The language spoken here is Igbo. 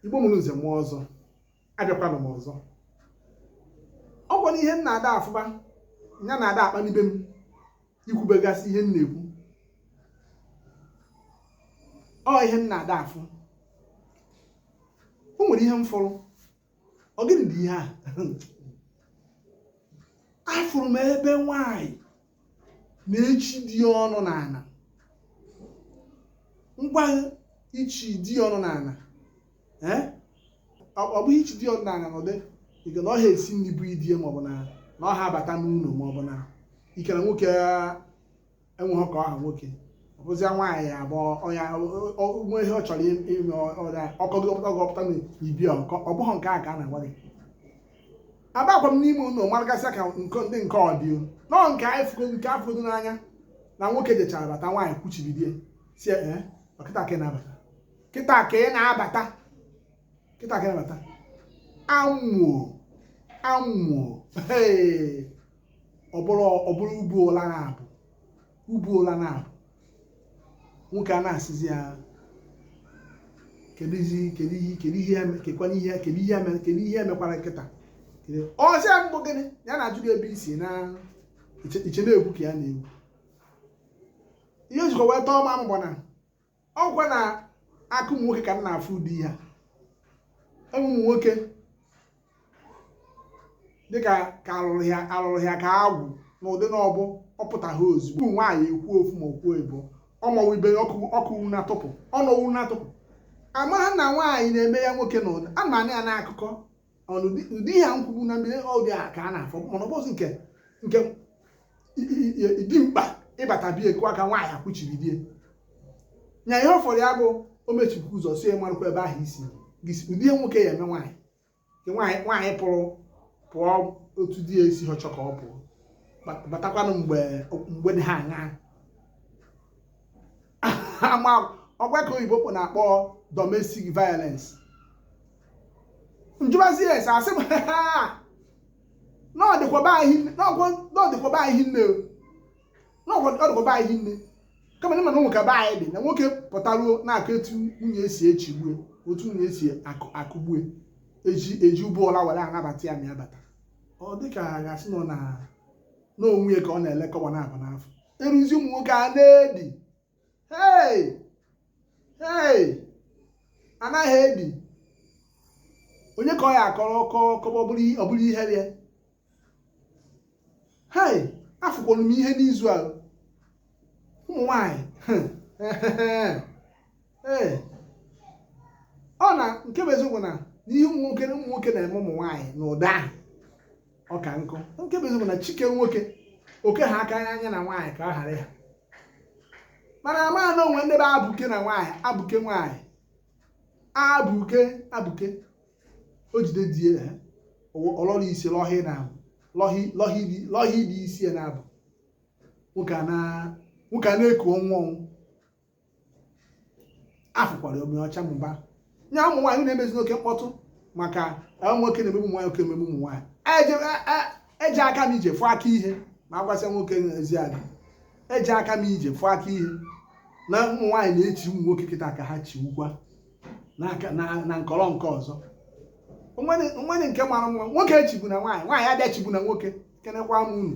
igbo mụrụ nze mụọ ọzọ abịakwanụ m ọzọ ọ kwa ihe m na-ada afụba ya na-ada akpanibe m ikwubegasị ihe m na-ekwu ọ ihe m na-ada afụ o nwere ihe m fụrụ ọ gịnị dị ihe a afụrụ m ebe nwanyị na-echi di ọnụ n'ala ngwa ichi di ọnụ n'ala ee ọ bụ ichi di ọnụ n'ala n'ụdị ịke na ọ ha esi nri bụ di ye maọbụ na na ọ ha abata n'ụlọ maọbụ na ịke na nwoke enweghị ka ọ ha nwoke ọ bụzịa nwaanyị ya bụ ọnya nwe ihe ọ chọrọ ime ọrịa ọkọ gị ọpụta gị ọpụta na ibi ọkọ ọ bụghị nke a ka a na-agwa gị abakwa m n'ime ụlọ maragasịa ka nke ndị nke audio no nke anyị fụgo nke a fụrụ n'anya na nwoke jechara bata nwaanyị kwụchibe di ye sị ee ọ kịta ka ị na-abata kịta ka ị na-abata kịta ka ị na-abata amụo amụo ọ bụrụ ọ bụrụ ubu ụla na-abụ ubu ụla na-abụ nwoke a na-asịzi ya kedu ihe kedu ihe kedu ihe eme- kekwana ihe kedu ihe eme- kedu ihe m mekwara kịta kedu- ọ sị ya ọ bụ gịnị ya na-ajụ gị ebe i si na iche iche na-egwu ka ya na-egwu ihe o jikwa wee tọọ ma mgbọ na ọ kwa n'aka ụmụ nwoke ka m na-afụ ụdị ihe a ụmụ nwoke dịka ka alụrụ ya alụrụ ya ka agwụ n'ụdị na ọ bụ ọ pụtaghị ozugbo ụmụ nwaanyị ekwu ofu ma o kwuo ebo ọmọwụ ibe ya ọkụ ọkụ wu na-atụpụ ọnọwu na-atụpụ amaghị na nwaanyị na-eme ya nwoke n'ụdị a mana ya n'akụkọ ọnụ ụdị ihe nkwugbu na mmiri ọ dị a ka a na-afụ mana ọ bụzi nke nke dimkpa ịbata be ye kụọ aka nwaanyị akwụchiri di ye nya ihe ọ fọrọ ya bụ o mechipụ ụzọ sị ye marụkwa ebe ahụ i si gisi ụdị ihe nwoke ya-eme nwaanyị nwaanyị nwaanyị pụrụ pụọ otu di ya esi achọ ka ọ pụọ batakwanụ mgbe mgbe dị ha aṅaa ọ kwa ka oyibo kpọ na-akpọ domestic violence njụbazi ya ese asị m na ọ dịkwa be anyị nne na ọ dịkwa be anyị nne kama na nwoke be anyị dị na nwoke pụtaruo na-akọ etu nwunye esi echigbu e otu nwunye esi akụgbu e eji eji ụbọ ụla were anabata ya ma ya bata ọ dịka a ga-asị nọ na n'onwe ya ka ọ na-ele kọwa na-abụ n'afọ eruzi ụmụ nwoke a na-edi hei hei anaghị edi onye ka ọ ya-akọrọ ọ kọ ọ kọba ọ bụrụ ihere hei afụkwara m ihe n'izu a ụmụ nwanyị ee ọ na nke bụ eziokwu na n'ihe ụmụ nwoke ụmụ nwoke na-eme ụmụ nwaanyị na ụda ahụ ọ ka nkụ nke bụ eziokwu na chi kee nwoke o kee ha aka anya na nwaanyị ka ọ ghara ya mana amaghị na o nwere ndị bụ abụke na nwaanyị abụke nwaanyị abụke abụke o jide di ya ha ọ lọrọ isi lọhị na lọhị lọhị dị lọhị dị isi ya na-abụ nwoke a na nwoke a na-eku ọnwụ ọnwụ afụkwara omi ọcha mụba nye ụmụ nwaanyị na-emezi oke mkpọtụ maka nwoke na-emegbu ụmụ nwaanyị nwoke emegbu ụmụ nwaanyị eji aka m ije fụọ aka ihe ma agwasị nwoke ezi aga eji aka m ije fụọ aka ihe na ụmụ nwaanyị na-echi ụmụ nwoke kịta ka ha chiwukwana nkọrọ nke ọzọ o nwere nke mara mma nwoke echigbuna nwaanyị nwaanyị abịa chigbuna nwoke ekenekwa m unu